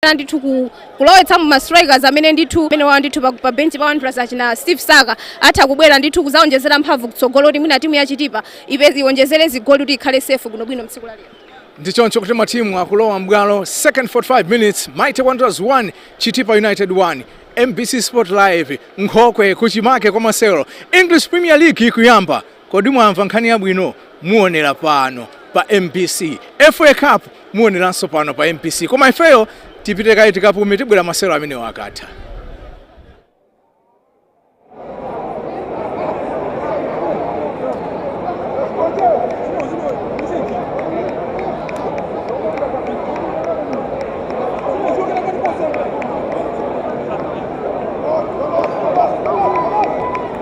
kulimbana ndithu ku- kulowetsa mu ma strikers amene ndithu amene ali ndithu pa- pa benchi pa wanderers achina steve saka atha kubwera ndithu kuzaonjezera mphamvu kutsogolo kuti mwina timu yachitipa ipeze iwonjezere zigoli kuti ikhale safe bwinobwino mtsiku la lero ndichoncho kuti matimu akulowa mbwalo second 45 minutes mighty wanderers 1 chitipa united 1 mbc sport live nkhokwe kuchimake kwa masewero english premier league ikuyamba Kodi mwamva nkhani yabwino? Muonera pano pa mbc. FA cup muoneranso pano pa mbc. Koma ifeyo tipite kaye tikapume tibwera masewero amenewa akatha.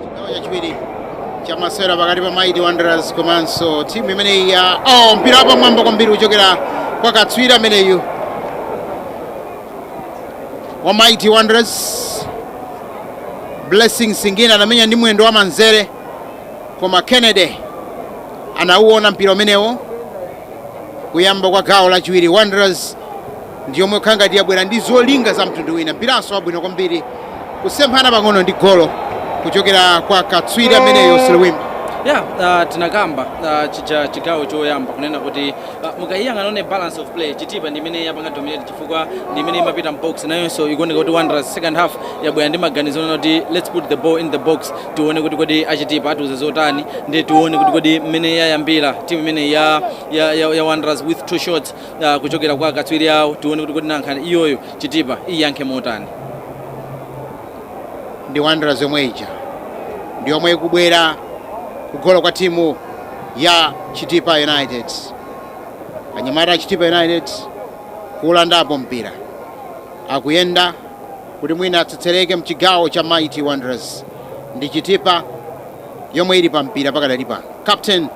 Chigawo chachiwiri cha masewero pakati pa Mighty Wanderers komanso timu imeneyi ya oh, mpira wapamwamba kwambiri kuchokera kwa katswiri ameneyu wa Mighty Wanderers Blessings Singini anamenya ndi mwendo wa manzere koma Kennedy anauona mpira umenewo kuyamba kwa gawo lachiwiri Wanderers ndi yomwe ikukhala ngati yabwera ndi zolinga za mtundu wina mpiranso wabwino kwambiri kusemphana pang'ono ndi golo kuchokera kwa katswiri ameneyo Silwimba ya uh, tinakamba uh, chija chigawo choyamba kunena kuti Uh, mukaiyang'ana on balance of play chitipa ndi imene yapanga dominate chifukwa ndi imene imapita mbox nayonso ikuoneka kuti wanderers second half yabwera ndi maganizo onena kuti let's put the ball in the box tione kuti kodi achitipa atiuze zotani ndi tione kuti kodi mmene yayambira timu imene ya, ya, ya, ya wanderers with two shots uh, kuchokera kwa akatswiri awo tione kuti kodi nanga iyoyo chitipa iyankhe motani ndi wanderers yomwe ija ndi yomwe ikubwera kugolo kwa timu ya Chitipa United. Anyamata a Chitipa United kulandapo mpira akuyenda kuti mwina atsetsereke mchigawo cha Mighty Wanderers ndi Chitipa yomwe ili pa mpira pakadali pano. Captain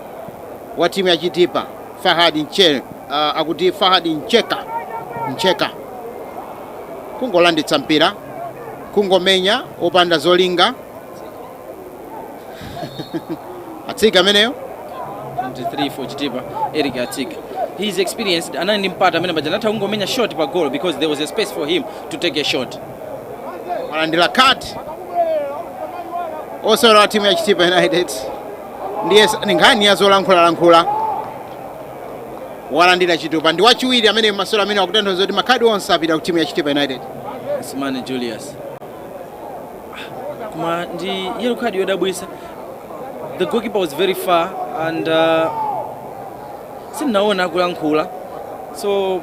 wa timu ya Chitipa Fahad Nche, uh, akuti Fahad Ncheka kungolanditsa mpira kungomenya opanda zolinga atsiga ameneyo 23 for chitipa eric atsiga he is experienced anali ndi mpata amene paja anatha kungomenya shot pa goal because there was a space for him to take a shot walandira khadi osewera wa timu ya chitipa united ndiye s- ni nkhani ya zolankhulalankhula walandira chitupa ndi wachiwiri amene mmasewero amene akutanthauza kuti makhadi onse apita ku timu ya chitipa united simani julius koma ndi yellow card yodabwisa the goalkeeper was very far and uh, sindinaona akulankhula so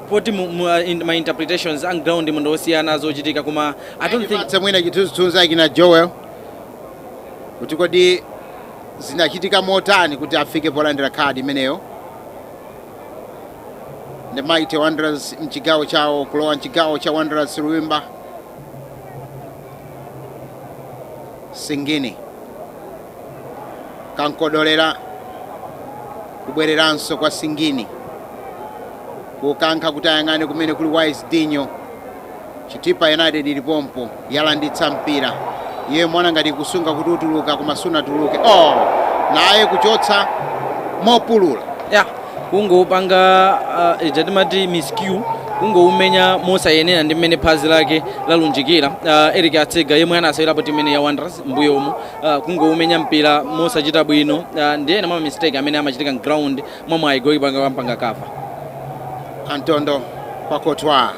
poti mu- mu- uh, in- ma interpretations on ground munthu osiyana zochitika koma i don't think Patse mwina chithunzithunzi akina joel kuti kodi zinachitika motani kuti afike polandira khadi imeneyo ndi Mighty Wanderers mchigawo chawo kulowa mchigawo cha Wanderers Silwimba Singini kankodolera kubwereranso kwa Singini kukankha kuti ayang'ane kumene kuli Wise Dinyo Chitipa United ili pompo yalanditsa mpira iye amaona ngati akusunga kuti utuluka koma sunatuluke. Oh, naye kuchotsa mopulula ya kungopanga uh, ija timati miscue kungoumenya mosayenera ndi mmene phazi lake lalunjikira uh, eric atsiga yemwe anasewerapo timu imene ya wanderers mbuyomo uh, kungoumenya mpira mosachita bwino uh, ndi ena mwa ma mistake amene amachitika mground mwa mwayi gokipa wampanga kava Antondo Pakotwa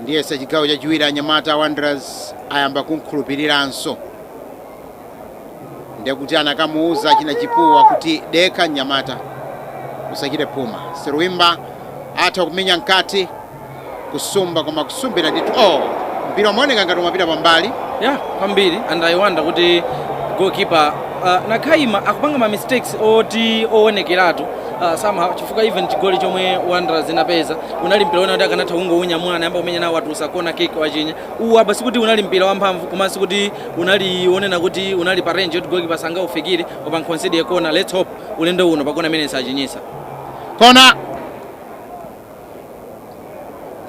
ndiyesa chigawo chachiwiri anyamata a wanderers ayamba kumkhulupiriranso ndekuti anakamuuza achina chipuwa kuti dekha mnyamata usachite phuma silwimba atha kumenya mkati kusumba koma kusumbira ndithu oh, mpira umaoneka ngati umapita pambali kwambiri and i wonder kuti goalkeeper uh, nakaima akupanga ma mistakes oti owonekeratu Uh, somehow chifukwa even chigoli chomwe Wanderers inapeza unali mpira wonena kuti akanatha kungounyamula anayamba kumenya nawo watulusa kona kick wachinya uwu apa sikuti unali mpira wamphamvu komanso sikuti unali wonena kuti unali pa range yoti goalkeeper sangaufikire koma wa concede kona let's hope ulendo uno pakona imene sachinyisa kona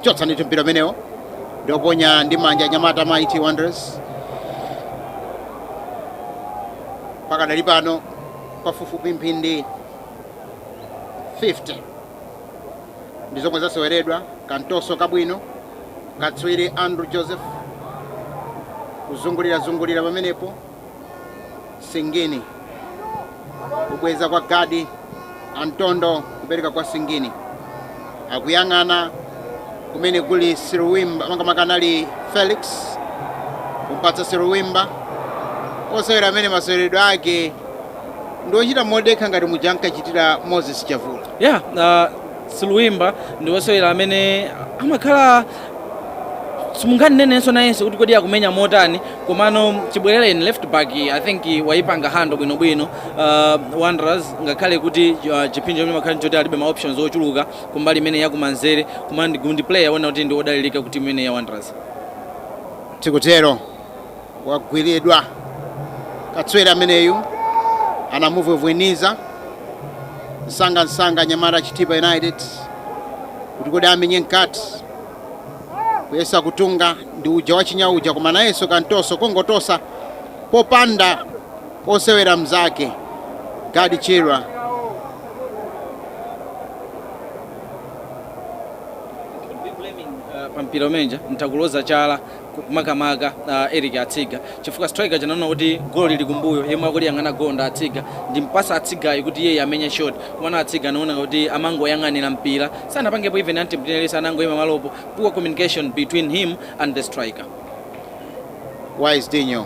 chotsa ndithu mpira umenewo ndioponya ndi manja anyamata mighty wanderers pakadali pano pafupifupi mphindi 50 ndi zomwe zaseweredwa kantoso kabwino katswiri andrew joseph kuzungulirazungulira pamenepo singini kubweza kwa gadi antondo kupereka kwa singini akuyang'ana kumene kuli Silwimba makamaka anali felix kumpatsa Silwimba osewera amene maseweredwe ake ndi ochita modekha ngati muja ankachitira moses chavula ya yeah, uh, Silwimba ndi osewera amene amakhala simunganenenso nayense kuti kodi akumenya motani komano chibwerereni left back i think waipanga hando bwinobwino uh, wanderers ngakhale kuti uh, chipsinjo chomwe amakhala choti alibe ma options ochuluka kumbali imene yakumanzere koma ndi ndi player ona kuti ndi odalirika ku timu imene ya wanderers tikutero wagwiridwa katswiri ameneyu anamuvwevwenitsa msanga msanga anyamata a chitipa united kuti kodi amenye mkati kuyesa kutunga ndi uja wachinya uja koma nayenso kamtoso kongotosa popanda osewera mzake gaddie chirwa pampira umenja mtakuloza chala makamaka uh, Eric Atsiga chifukwa striker uja anaona kuti golo lili kumbuyo yemwe akuliyang'ana golo ndi Atsiga ndimpatse Atsigayu kuti iyeyo amenye shot komano Atsiga anaona kuti amangoyang'anira mpira sanapangepo even antibinelesi anangoyima pamalopo poor communication between him and the striker Wise Dinyo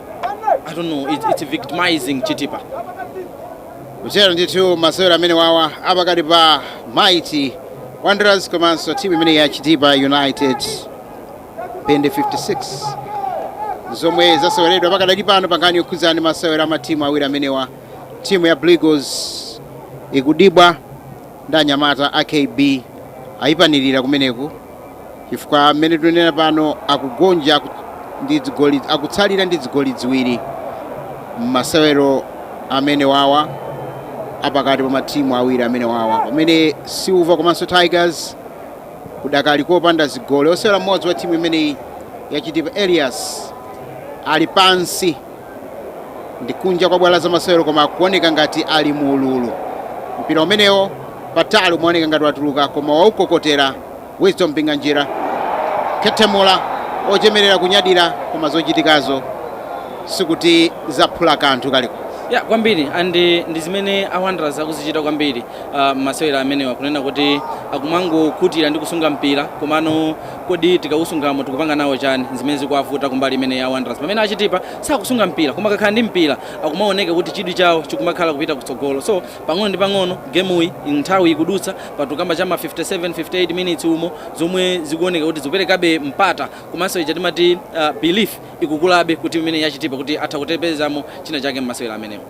I don't know, it's, it's victimizing Chitipa. kuchera ndithu masewero amene wawa apakati pa mighty wanderers komanso timu imene ya chitipa united mphindi 56 zomwe zaseweredwa pakadali pano pankhani yokhudzana ndi masewero a matimu awiri amenewa timu ya Blue Eagles ikudibwa ndi anyamata a KB ayipanikiza kumeneku chifukwa mmene tunenera pano akugonja ku- ndi zigoli akutsalira ndi zigoli ziwiri mmasewero amene wawa apakati pa matimu awiri amene wawa pamene silver komanso tigers kudakali kopanda zigoli osewera mmodzi wa timu imeneyi yachitipa elias ali pansi ndi kunja kwa bwalo la zamasewero koma akuoneka ngati ali mu ululu mpira umenewo patali umaoneka ngati watuluka koma waukokotera wisdom mpinganjira kuyethemula ochemerera kunyadira koma zochitikazo sikuti zaphula kanthu kaliko yah kwambiri and eh, ndi zimene a Wanderers akuzichita kwambiri ah, mmasewero amenewa kunena kuti akumangokhutira ndi kusunga mpira komano Kodi tikausungamo tikupanga nawo chani? Nzimene zikuwavuta kumbali imeneyi ya Wanderers pamene a Chitipa sakusunga mpira koma akakhala ndi mpira akumaoneka kuti chidwi chawo chikumakhala kupita kutsogolo so pang'ono ndi pang'ono gemuyi nthawi ikudutsa pano tukamba cha ma 57, 58 minutes umo zomwe zikuoneka kuti zikuperekabe mpata komanso ija timati belief ikukulabe ku timu imeneyi ya Chitipa kuti atha kudzapezamo china chake mmasewero amenewa.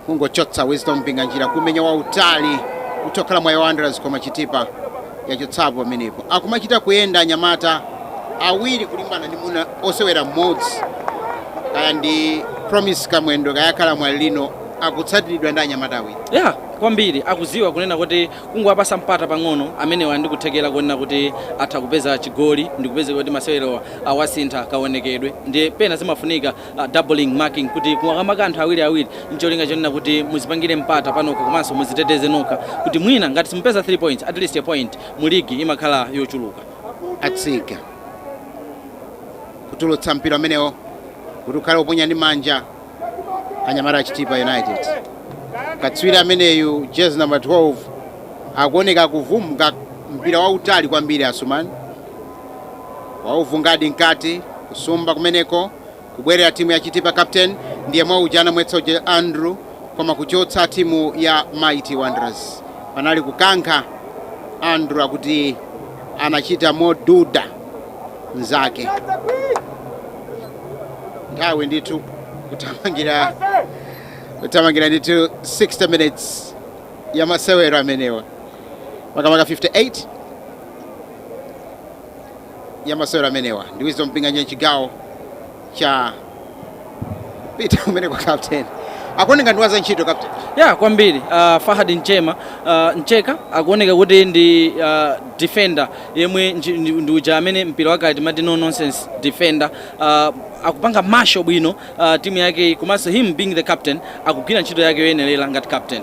kungochotsa wisdom mpinganjira kumenya wautali kutha kukhala mwayi wanderers koma chitipa yachotsapo pamenepo akumachita kuyenda anyamata awiri kulimbana ndi muna osewera mmodzi kaya ndi promise kamwendo kaya akhala mwalilino akutsatiridwa ndi anyamata awiri ya kwambiri akuziwa kunena kuti kungowapasa mpata pang'ono amenewa ali ndi kuthekera kunena kuti atha kupeza chigoli ndi kupezeka kuti masewero awasintha kaonekedwe ndi pena zimafunika uh, doubling marking kuti kumamaka anthu awiri awiri ncholinga chonena kuti muzipangire mpata panokha komanso muziteteze nokha kuti mwina ngati simupeza 3 points at least a point mu ligi imakhala yochuluka atsika kutulutsa mpira umenewo kuti ukhale woponya ndi manja anyamata a chitipa united katswiri ameneyu jezi number 12 akuoneka kuvunga mpira wautali kwambiri asumani Wauvungadi mkati kusumba kumeneko kubwerera timu ya Chitipa captain ndiyemwe uja anamwetsa uja Andrew koma kuchotsa timu ya Mighty Wanderers panali kukankha Andrew akuti anachita moduda mzake nthawi ndithu kuthamangira ndithu 60 minutes ya masewero amenewa makamaka 58 ya masewero amenewa ndi Wisdom Mpinganjira chigawo cha pita kumene kwa captain akuoneka ndiwadzantchito captain ya kwambiri uh, Fahad Nchema uh, Ncheka akuoneka kuti ndi uh, defender yemwe nji- ndi ndi uja amene mpira wakale timati no nonsense defender uh, akupanga marshal bwino uh, timu yake komanso him being the captain akugwira ntchito yake yoyenerera ngati captain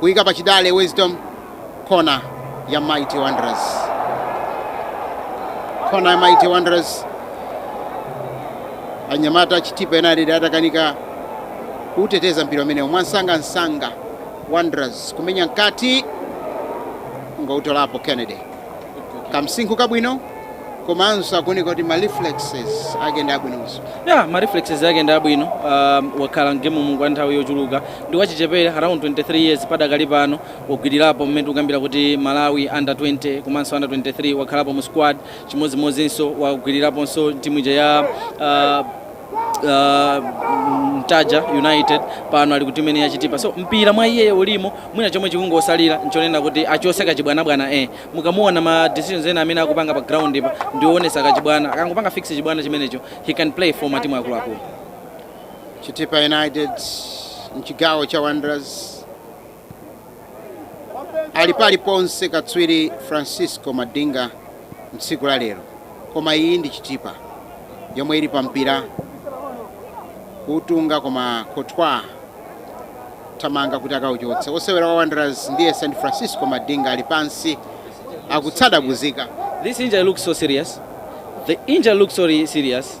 Kuika pachidale Wisdom, kona ya Mighty Wanderers. Kona ya Mighty Wanderers. Anyamata a Chitipa United atakanika kuteteza mpira umenewo mwamsangamsanga. Wanderers kumenya mkati, ndikuutolapo Kennedy. kamsinkhu kabwino komanso akuoneka kuti ma reflexes ake ndi abwinonso ya ma reflexes ake ndi abwino um, wakhala mgemu mu kwa nthawi yochuluka ndi wachichepere around 23 years padakali pano wagwirirapo mmene tikukambira kuti malawi under 20 komanso under 23 wakhalapo mu squad chimodzimodzinso wagwiriraponso timu ija ya uh, uh, Mtaja United pano ali ku timu imene ya Chitipa so mpira mwa iyeyo ulimo mwina chomwe chikungotsalira nchonena kuti achotse kachibwanabwana eh mukamuona ma decisions ena amene akupanga pa ground pa ndi oonetsa kachibwana akangopanga fix chibwana chimenecho he can play for matimu akuluakulu Chitipa United mchigawo cha Wanderers ali paliponse katswiri francisco madinga mtsiku la lero koma iyi ndi chitipa yomwe ili pa mpira kuutunga koma kotwa wathamanga kuti akauchotse osewera wa wanderers ndiye st francisco madinga ali pansi akutsadabuzika This injury looks so serious. The injury looks so re- serious.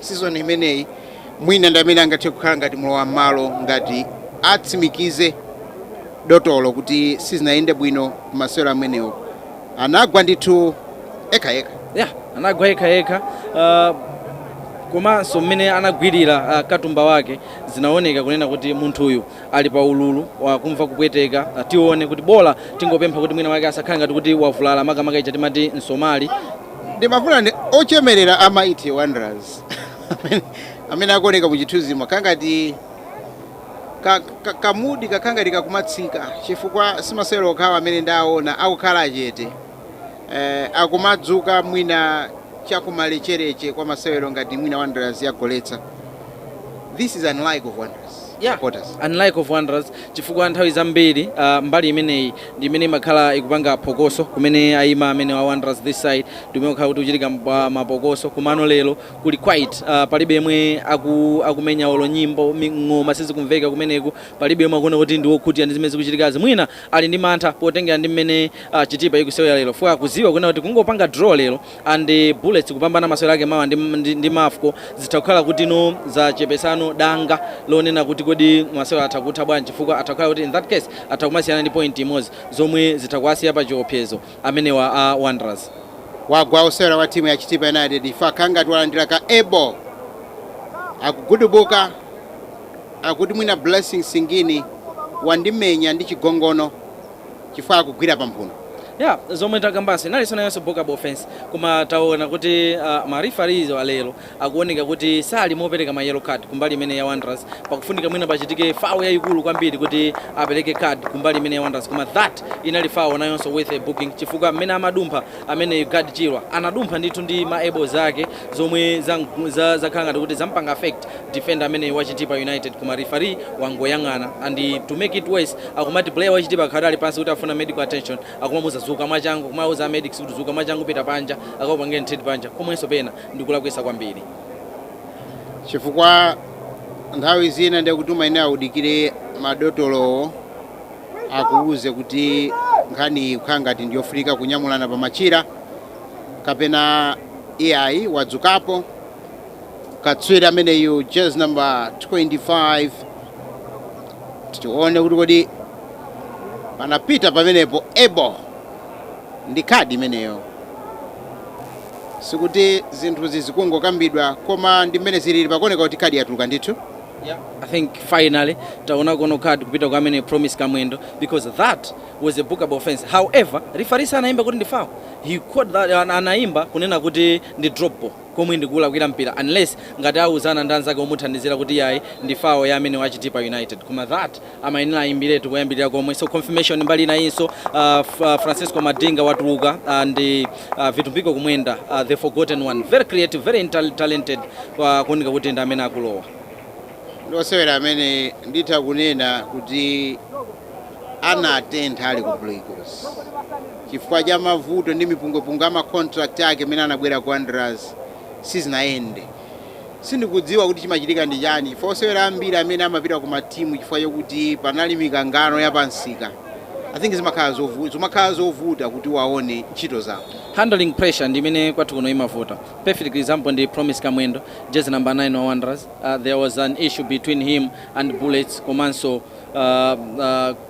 Season imeneyi mwina ndi amene angathe kukhala ngati mlowa mmalo ngati atsimikize dotolo kuti sizinayende bwino masewero amenewo anagwa ndithu ekha ekha ya anagwa yekha yekha uh, komanso mmene anagwera uh, katumba wake zinaoneka kunena kuti munthuyu ali pa ululu wakumva kupweteka uh, tione kuti bola tingopempha kuti mwina wake asakhale ngati kuti wavulala makamaka ija timati msomali Ndimafuna ndi ochemerera a Mighty Wanderers amene akuoneka muchithunzimo akhala ngati ka, ka, kamudi kakhala ngati kakumatsikako chifukwa simasewero okhawa amene ndaona akukhala achete eh, akumadzuka mwina chakumalecheleche kwa masewero ngati mwina Wanderers yagoletsa This is unlike of Wanderers yeah. supporters. Unlike of Wanderers chifukwa nthawi zambiri uh, mbali imeneyi ndi imene imakhala ikupanga phokoso kumene ayima amene wa Wanderers this side ndi umene ukhala kuti uchitika mpa- mapokoso komano lero kuli quiet uh, palibe yemwe aku, akumenya olo nyimbo mi- ng'oma sizikumveka kumeneku palibe yemwe akuona kuti ndi wokhutira ndi zimene zikuchitikazi mwina ali ndi mantha potengera ndi mmene uh, chitipa ikusewera lero chifukwa akuziwa kunena kuti kungopanga draw lero and bullets kupambana masewero ake mawa ndi, ndi, ndi mafco zitha kukhala kuti no zachepesa danga lonena kuti kodi masewero atha kutha bwanji chifukwa atha kukhala kuti in that case atha kumasiyana ndi point imodzi zomwe zitha kuwasiya pa chiopsezo amenewa a wanderers wagwa osewera wa timu ya chitipa united if akhala ngati walandira ka elbow akugudubuka akuti mwina blessing singini wandimenya ndi chigongono chifukwa akugwira pamphuno. Yeah, zomwe takambaso inali sonayonso bookable offense koma taona kuti uh, ma referees wa lero akuoneka kuti sali mopereka ma yellow card kumbali imene ya Wanderers pakufunika mwina pachitike foul yayikulu kwambiri kuti apereke card kumbali imene ya Wanderers koma that inali foul nayonso worth a booking chifukwa mmene amadumpha amene Gaddie Chirwa anadumpha ndithu ndi ma elbows ake zomwe zakhala za, za ngati kuti zampanga affect Defender ameneyu wa Chitipa United koma referee wangoyang'ana and to make it worse akumati player wa Chitipa akadali pansi kuti afuna medical attention akumamuuza zuka mwachangu kumauza a medics kuti zuka mwachangu pita panja akakupangeni treat panja komwenso pena ndikulakwisa kwambiri chifukwa nthawi zina ndiye kuti umayenera audikire madotolowo akuuze kuti nkhaniyi ikukhala ngati ndiyofunika kunyamulana pa machira kapena iyayi wadzukapo katswiri ameneyu jezi number 25 tione kuti kodi anapita pamenepo ebo ndi kadi imeneyo sikuti zinthu zizikungokambidwa koma ndi mmene zilili pakuoneka kuti kadi yatuluka ndithu Yeah, I think finally taonako card kupita kwa ameneyo promise kamwendo because that was a bookable offense however referee anaimba kuti ndi foul he called that an- anaimba kunena kuti ndi drop ball komwe ndikuulakwira mpira unless ngati auzana ndi anzake omuthandizira kuti yayi ndi foul ya amene wa Chitipa United koma then amayenera aimbiretu koyambirira komwe so confirmation mbali inayinso uh, Francisco Madinga watuluka uh, and uh, Vitumbiko Kumwenda uh, the forgotten one very creative very intel- talented uh, kuoneka kuti ndi amene akulowa ndi osewera amene nditha kunena kuti anatentha ali ku Blue Eagles chifukwa cha mavuto ndi mipungwepungwe ya ma contract ake mmene anabwera ku Wanderers sizinayende sindikudziwa kuti chimachitika ndi chani chifukwa osewera ambiri amene amapita ku matimu chifukwa chakuti panali mikangano ya pamsika I think zimakhala zovuta kuti waone ntchito zawo handling pressure ndi imene kwathu kuno imavuta perfect example ndi promise kamwendo jezi number 9 wa wanderers uh, there was an issue between him and bullets komanso uh,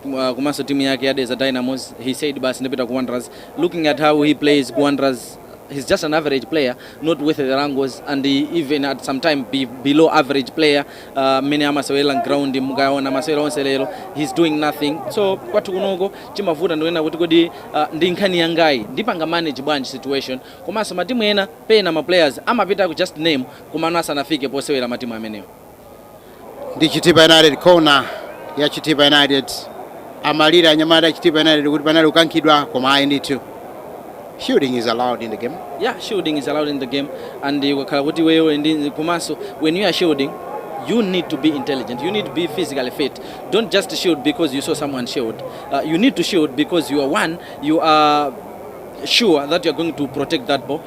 uh, komanso timu yake ya Dedza Dynamos he said basi ndipita ku Wanderers looking at how he plays ku Wanderers he's just an average player not worth the wrangles and even at some time below average player uh, mmene amasewera mground mukaona masewera onse lero he's doing nothing so kwathu kunoko chimavuta ndi kunena kuti kodi uh, ndi nkhani yangayi ndipanga manage bwanji situation komanso matimu ena pena ma players amapitako just name komano asanafike posewera matimu amenewo ndi chitipa united kona ya chitipa united amalira anyamata chitipa united kuti panali kukankhidwa koma ayi ndithu shooting is allowed in the game yeah shielding is allowed in the game and uh, ukakhala kuti wewe ndi komanso when you are shielding you need to be intelligent you need to be physically fit don't just shield because you saw someone shield uh, you need to shield because you are one you are sure that you are going to protect that ball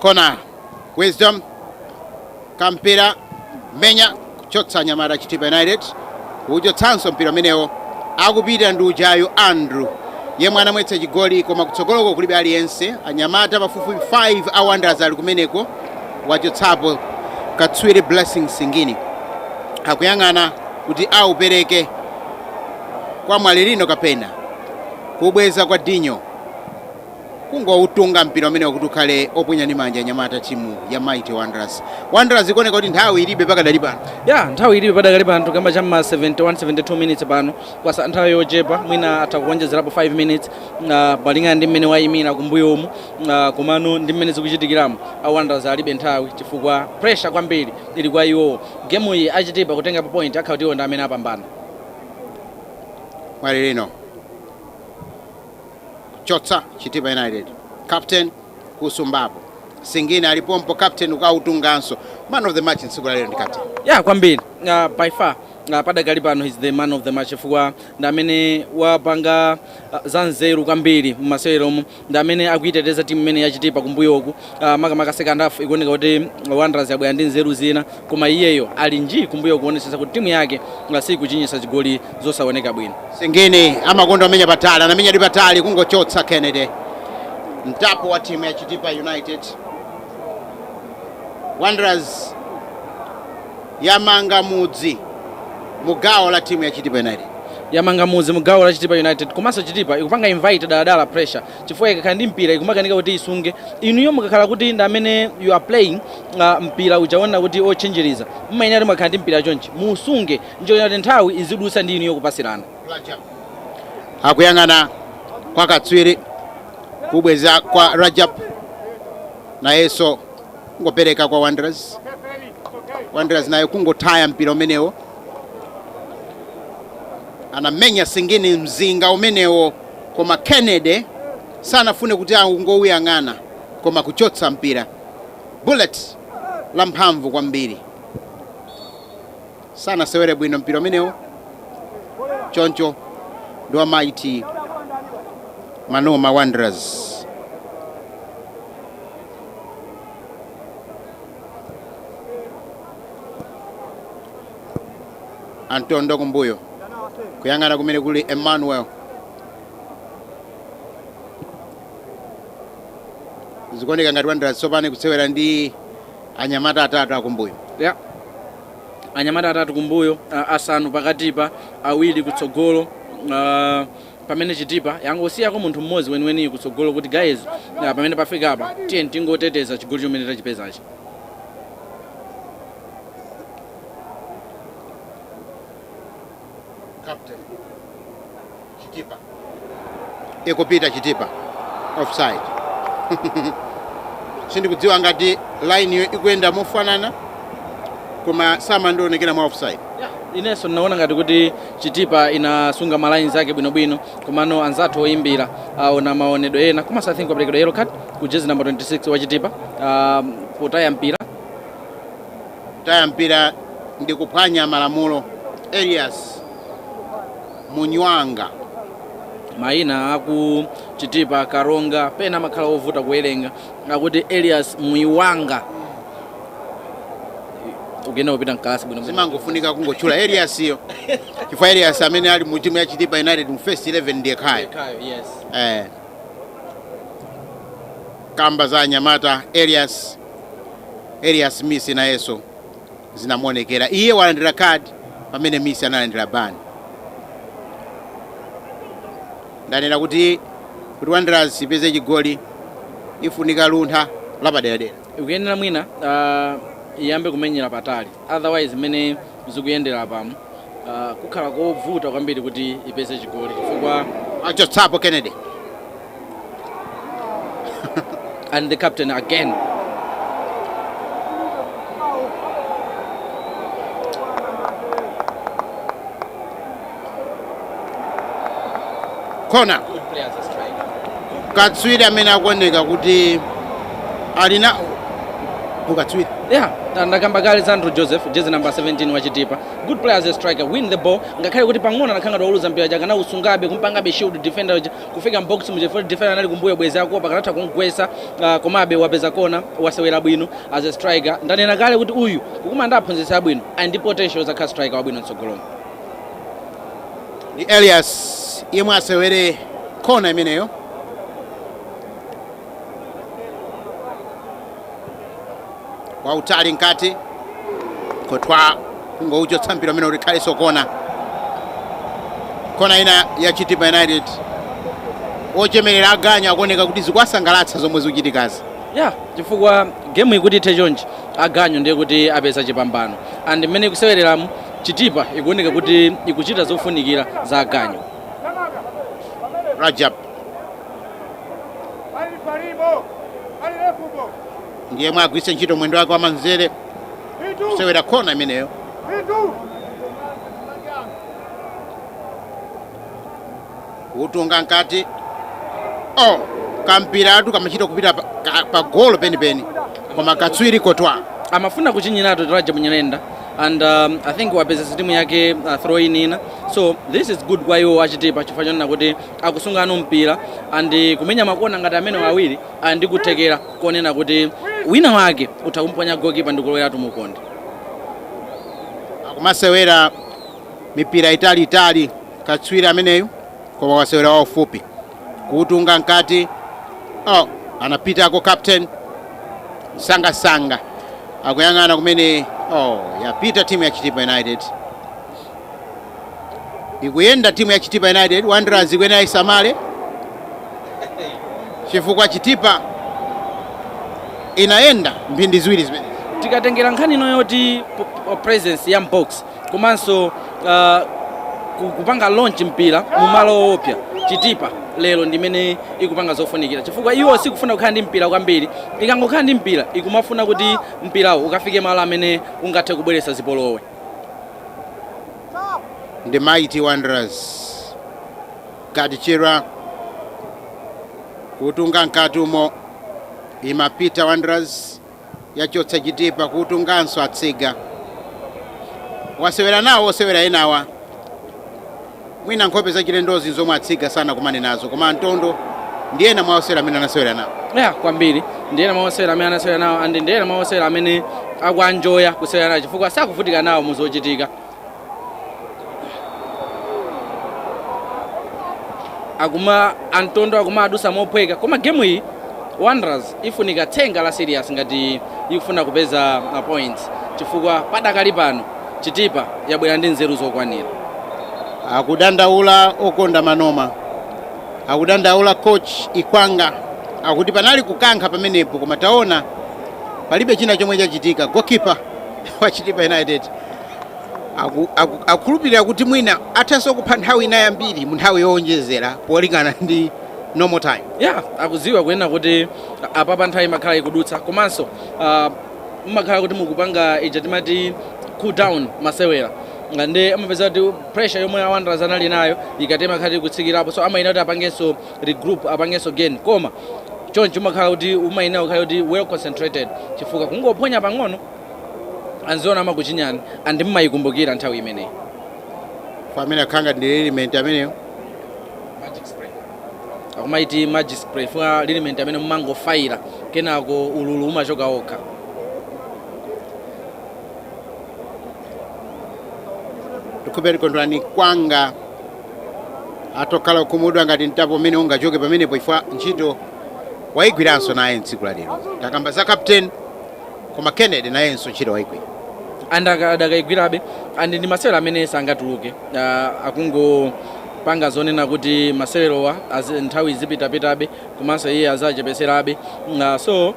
kona wisdom Mpinganjira menya kuchotsa anyamata chitipa united kuchotsanso mpira umenewo akupita ndi uja yu andrew yemwe anamwetsa chigoli koma kutsogoloko kulibe aliyense anyamata pafupifupi 5 a wanderers ali kumeneko wachotsapo katswiri blessing singini akuyang'ana kuti aupereke kwa mwalilino kapena kubweza kwa dinyo kungoutunga mpira umenewo kuti ukhale oponya ndi manja anyamata timu ya Mighty Wanderers. Wanderers ikuoneka kuti nthawi ilibe pakadali pano. yeah nthawi ilibe padakali pano tikukamba chamma 71 72 minutes pano kwatsala nthawi yochepa mwina atha kuonjezerapo 5 minutes uh, malingana ndi mmene wayimira kumbuyomu uh, komano ndi mmene zikuchitikiramo awanderers alibe nthawi chifukwa pressure kwambiri ili kwa iwowo gemu iyi achitipa kutengapo point akhala kuti iwo ndi amene apambana Mwalilino. kuchotsa chitipa united captain kusumbapo singini ali pompo captain akautenganso man of the match tsiku la lero ndi captain ya kwambiri uh, by far uh, padakali pano he's the man of the match chifukwa ndi amene wapanga uh, zanzeru kwambiri mmaseweromo ndi amene akuiteteza timu imene ya chitipa kumbuyoku uh, makamaka second half ikuoneka kuti Wanderers yabwera ndi nzeru zina koma iyeyo ali nji kumbuyo kuonetsetsa kuti timu yake sikuchinyitsa zigoli zosaoneka bwino singini amakonda amenya patali anamenyadi patali kungochotsa kennedy mtapo wa timu ya chitipa united wanderers yamanga mudzi mu gawo la timu ya chitipa united yamanga mudzi mu gawo la chitipa united komanso chitipa ikupanga invite dala dala pressure chifukwa ikakhala ndi mpira ikumakanika kuti isunge inuyo mukakhala kuti ndi amene you are playing uh, mpira uja wonena kuti otchinjiriza mumayenera kuti mukakhala ndi mpira chonchi muusunge n'cholinga choti nthawi izidutsa ndi inuyo kupatsirana akuyang'ana kwa katswiri kubweza kwa rajab nayenso kungopereka kwa wanderers wanderers nayo kungotaya mpira umenewo anamenya singini mzinga umenewo Koma Kennedy sanafune kuti angouyang'ana koma kuchotsa mpira. Bullet la mphamvu kwambiri. Sanasewere bwino mpira umenewo. Choncho ndi wa Mighty Manoma Wanderers. antondo kumbuyo kuyang'ana kumene kuli emmanuel zikuoneka ngati wanderers tsopano ikusewera ndi anyamata atatu akumbuyo yeah anyamata atatu kumbuyo ah, asanu pakatipa awiri kutsogolo ah, pamene chitipa yangosiyako munthu mmodzi weniweni kutsogolo kuti guys ah, pamene pafika apa tiyeni tingoteteza chigoli chomwe tachipezachi Captain. Chitipa. Ikupita Chitipa. Offside. Sindikudziwa ngati line yo ikuyenda mofanana koma simandionekera mwa offside. inenso ndinaona ngati kuti chitipa inasunga ma lines ake bwinobwino komano anzathu oyimbira aona maonedwe ena koma I think kwaperekedwa yellow card ku jersey number 26 wa chitipa ah, potaya mpira Kutaya mpira ndi kuphwanya malamulo, Elias Munywanga. Maina aku Chitipa, Karonga pena amakhala ovuta kuwerenga, akuti Elias Muiwanga. Ukuyenda kupita mkalasi bwino bwino. Simangofunika kungotchula Elias yo. Chifukwa Elias amene ali mu timu ya Chitipa United mu first 11 ndi yekhayo. Kayo, yes. Eh. Kamba za anyamata Elias Elias Missi nayenso zinamuonekera iye walandira card pamene Missi analandira ban ndanena kuti kuti Wanderers ipeze chigoli ifunika luntha lapaderadera ikuyenera mwina uh, iyambe kumenyera patali otherwise mmene zikuyendera apamu uh, kukhala kovuta kwambiri kuti ipeze chigoli chifukwa achotsapo kennedy and the captain again kona katswiri amene akuoneka kuti ali na ukatswiri yeah ndakamba kale za andrew joseph jezi namba 17 wachitipa good player as a striker win the ball ngakhale kuti pang'ono anakhala ngati wauluza mpira chake anausungabe kumpangabe shield defender uja kufika m'box muja chifukwa defender anali kumbuyo bwezi akuopa akanatha kumgwesa uh, komabe wapeza kona wasewera bwino as a striker ndanena kale kuti uyu akumana ndi aphunzitsi abwino ali ndi potential yozakhala striker wabwino mtsogolomo ndi elias yemwe asewere kona imeneyo wautali mkati kotwa kungouchotsa mpira umene ulikhalenso kona kona ina ya chitipa united ochemerera aganyu akuoneka kuti zikuwasangalatsa zomwe zikuchitikazi yeah chifukwa gemu ikuti ithe chonchi aganyu ndiye kuti apeza chipambano and mmene ikusewereramo chitipa ikuoneka kuti ikuchita zofunikira za aganyu rajab ndi yemwe agwiritse ntchito mwendo wake wamanzere kusewera kona imeneyo kutunga mkati oh, kampiratu kamachita kupita pa, ka- pa golo penipeni koma katswiri kotwa amafuna kuchinyiratu rajab nyirenda and um, i think wapeza so timu yake uh, throw in ina so this is good kwa iwo achitipa chifukwa chonena kuti akusunga now mpira and kumenya makona ngati amenewa awiri Ali ndi kuthekera konena kuti wina wake utha kumuphonya goalkeeper ndikuloweratu mu ukonde. Akumasewera mipira itali itali katswiri ameneyu koma wasewera waufupi kuutunga mkati. Oh, anapitako captain msangamsanga akuyang'ana kumene. Oh, yapita timu ya Chitipa United. ikuyenda timu ya chitipa united wanderers ikuyenera isamale chifukwa chitipa inayenda mphindi ziwiri zimene tikatengera nkhani ino yoti po- po- presence ya m'box komanso ah, ku- kupanga launch mpira mu malo oopsa chitipa lero ndimene ikupanga zofunikira chifukwa iwo sikufuna kukhala ndi mpira kwambiri ikangokhala ndi mpira ikumafuna kuti mpirawo ukafike malo amene ungathe kubweretsa zipolowe ndi mighty wanderers gaddie chirwa kuutunga mkati umo imapita wanderers yachotsa chitipa kuutunganso atsiga wasewera nawo osewera enawa Mwina nkhope zachilendozi nzomwe a Tsiga sanakumane nazo koma a Ntondo ndi ena mwa osewera amene anasewera nawo. Yeah, kwambiri ndi ena mwa osewera amene anasewera nawo and ndi ena mwa osewera amene akuwanjoya kusewera nawo chifukwa sakuvutika nawo mu zochitika akuma a Ntondo akumawadutsa mophweka koma gemu iyi wanderers ifunika tsenga la serious ngati ikufuna kupeza ma points chifukwa padakali pano Chitipa yabwera ndi nzeru zokwanira. Akudandaula okonda manoma. Akudandaula coach Ikwanga. Akuti panali kukankha pamenepo koma taona palibe china chomwe chachitika. Goalkeeper wa Chitipa United aku, aku, akukhulupirira kuti mwina athanso kupha nthawi ina yambiri mu nthawi yowonjezera polingana ndi normal time. Yeah, akudziwa kunena kuti apapa nthawi imakhala ikudutsa komanso uh, mmakhala kuti mukupanga ija timati cool down masewera Nga nde amapeza kuti pressure yomwe a Wanderers anali nayo ikati imakhala kuti ikutsikirapo so amayenera kuti apangenso regroup apangenso gain koma choncho umakhala kuti umayenera kukhala kuti well concentrated chifukwa kungophonya pang'ono anzanuwo amakuchinyani and mmayikumbukira nthawi imeneyi pamene akhala ngati liniment ameneyo akumaiti magic spray funa liniment amene mumangofaira kenako ululu umachoka okha ndikhulupirira kondwani ikwanga atokhala okhumudwa ngati mtapo umene ungachoke pamenepo chifukwa ntchito waigwiranso naye mtsiku la lero takamba za captain koma Kennedy nayenso ntchito waigwira and aka- adakaigwirabe and ndi masewero amene sangatuluke uh, akungopanga zonena kuti masewerowa azi- nthawi izipitapitabe komanso iye azachepeserabe uh, so uh,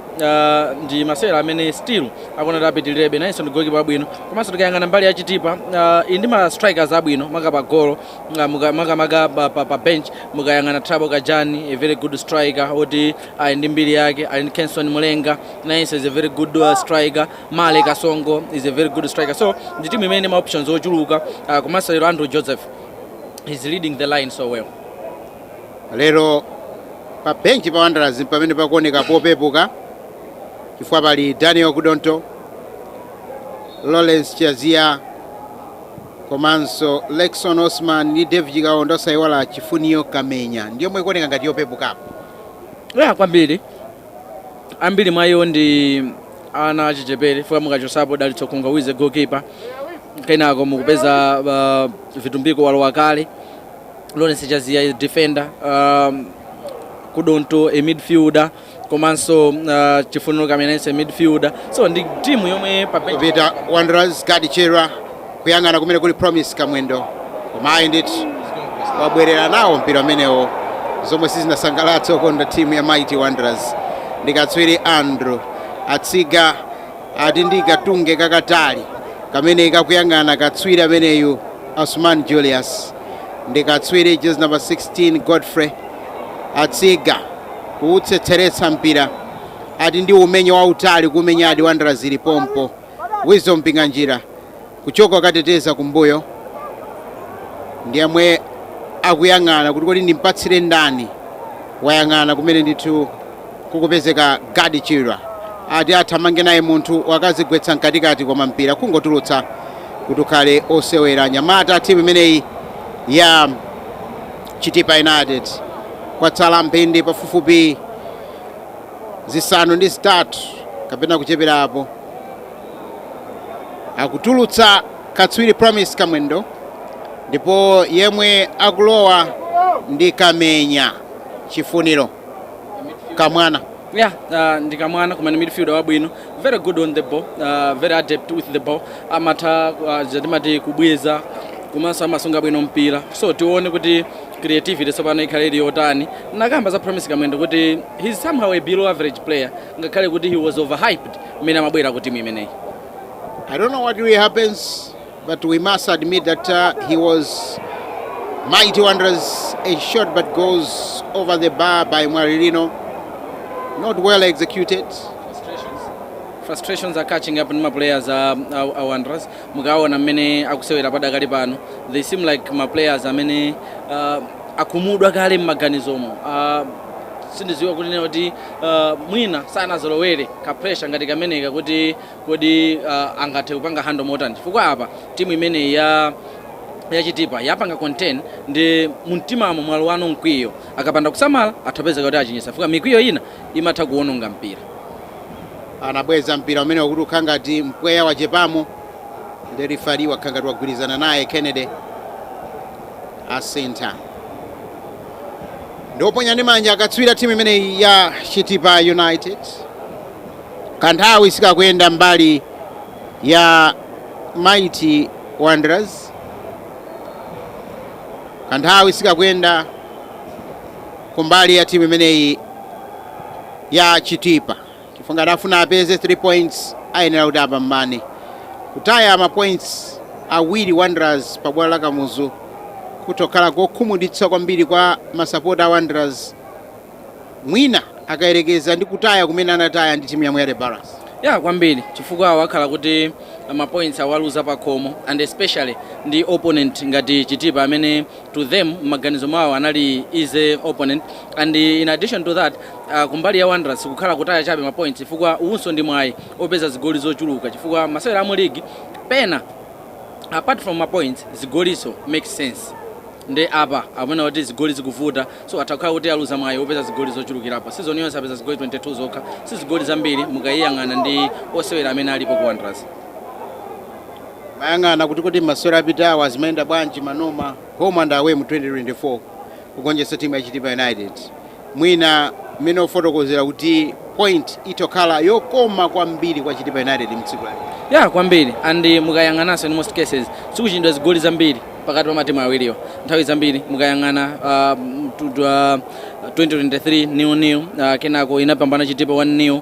ndi masewero amene still akuona kuti apitilirebe nayenso ndi gokipa wabwino komanso tikayang'ana mbali ya chitipa uh, ali ndi ma strikers abwino maka pa golo uh, muka- makamaka pa, pa, pa bench mukayang'ana thabo kajani a very good striker oti ali ndi mbiri yake ali ndi kenson mulenga nayenso is a very good uh, striker male kasongo is a very good striker so ndi timu imene ili ndi ma options ochuluka uh, komanso lero andrew joseph is leading the line so well lero pa benchi pa wanderers pamene pakuoneka popepuka chifukwa pali daniel kudonto lawrence chaziya komanso lexon osman ndi david kaondo osayiwala chifuniro kamenya ndiyomwe ikuoneka ngati yopepukapo ya kwambiri ambiri mwa iwo ndi ana achichepere chifukwa mukachosapo dalitso khungwa who is a goalkeeper kenako mukupeza uh, vitumbiko walowa kale lawrence chaziya defender um, kudonto a midfielder komanso uh, chifuniro kamenya a midfielder so ndi timu yomwe pa- Apita Wanderers, Gadi Chirwa, Kuyang'ana kumene kuli Promise Kamwendo koma ayi ndithu wabwerera nawo mpira umenewo zomwe sizinasangalatse okonda timu ya Mighty Wanderers ndi katswiri Andrew Atsiga ati ndi katunge kakatali kamene kakuyang'ana katswiri ameneyu Osman Julius ndi katswiri jezi namba 16 Godfrey Atsiga kuutsetseretsa mpira ati ndi umenye wautali kumenya adi Wanderers ili pompo Wisdom Mpinganjira kuchoka kukoteteza kumbuyo ndi yemwe akuyang'ana kuti kodi ndimpatsire ndani wayang'ana kumene ndithu kukupezeka Gadi Chirwa ati athamange naye munthu wakazigwetsa mkatikati koma mpira kungotulutsa kuti ukhale osewera anyamata a timu imeneyi ya Chitipa United kwatsala mphindi pafupifupi zisanu ndi zitatu kapena kucheperapo akutulutsa katswiri promise kamwendo ndipo yemwe akulowa ndi kamenya chifuniro kamwana Yeah, uh, ndikamwana kumene midfielder wabwino very good on the ball uh, very adept with the ball amatha uh, zatimati kubweza komanso amasunga bwino mpira so tione kuti creativity tsopano ikhale ili yotani nakamba za promise kamwendo kuti he's somehow a below average player ngakhale kuti he was overhyped mmene amabwera ku timu imeneyi I don't know what really happens, but we must admit that uh, he was mighty wonders. A shot but goes over the bar by Marilino. Not well executed. frustrations are catching up ndi maplayers a, a, a wanderers Mukaona mmene akusewera padakali pano they seem like ma players amene uh, akumudwa kale mmaganizomo uh, sindidziwa kunena kuti uh, mwina sanazolowere ka pressure ngati kameneka kuti kodi uh, angathe kupanga handle motani chifukwa apa timu imeneyi ya Chitipa yapanga contain ndiye mumtimamo mwalowano mkwiyo akapanda kusamala atha kupezeka kuti achinyitsa chifukwa mikwiyo ina imatha kuwononga mpira. Anabweza mpira umenewo kuti ukhala ngati mpweya wachepamo nde referee wakhala ngati wagwirizana naye Kennedy asintha ndi woponya ndi manja akatswira timu imeneyi ya Chitipa United kanthawi sikakuyenda mbali ya Mighty Wanderers kanthawi sikakuyenda kumbali ya timu imeneyi ya Chitipa chifukwa ngati akufuna apeze 3 points ayenera kuti apambane. Kutaya ma points awiri Wanderers pa bwalo la Kamuzu kutokhala kokhumudwitsa kwambiri kwa masapota a Wanderers mwina akayerekeza ndi kutaya kumene anataya ndi timu ya Moyale Barracks. Yeah kwambiri chifukwa akhala kuti mapoints awaluza pakhomo and especially ndi opponent ngati Chitipa amene to them m'maganizo mwawo anali easy opponent and in addition to that uh, kumbali ya Wanderers sikukhala kutaya chabe ma points chifukwa uwunso ndi mwayi opeza zigoli zochuluka chifukwa masewera amu league pena apart from ma points zigolinso make sense nde apa mmene kuti zigoli zikuvuta so atha kukhala kuti aluza mwayi opeza zigoli zochulukirapo season yonse apeza zigoli 22 zokha si zigoli zambiri mukayiyang'ana ndi osewera amene alipo ku Wanderers Mayang'ana kuti kodi masewera apitawa zimayenda bwanji Manoma home and away mu 2024 kugonjetsa timu ya Chitipa United. Mwina mmene wafotokozera kuti point itokhala yokoma kwambiri kwa Chitipa United mtsiku la lero. Yeah kwambiri and mukayang'ananso in most cases sikuchinyidwa zigoli zambiri pakati pa matimu awiriwa nthawi zambiri mukayang'ana uh, tu- tu- uh, 2023 nil nil uh, kenako inapambana Chitipa 1 nil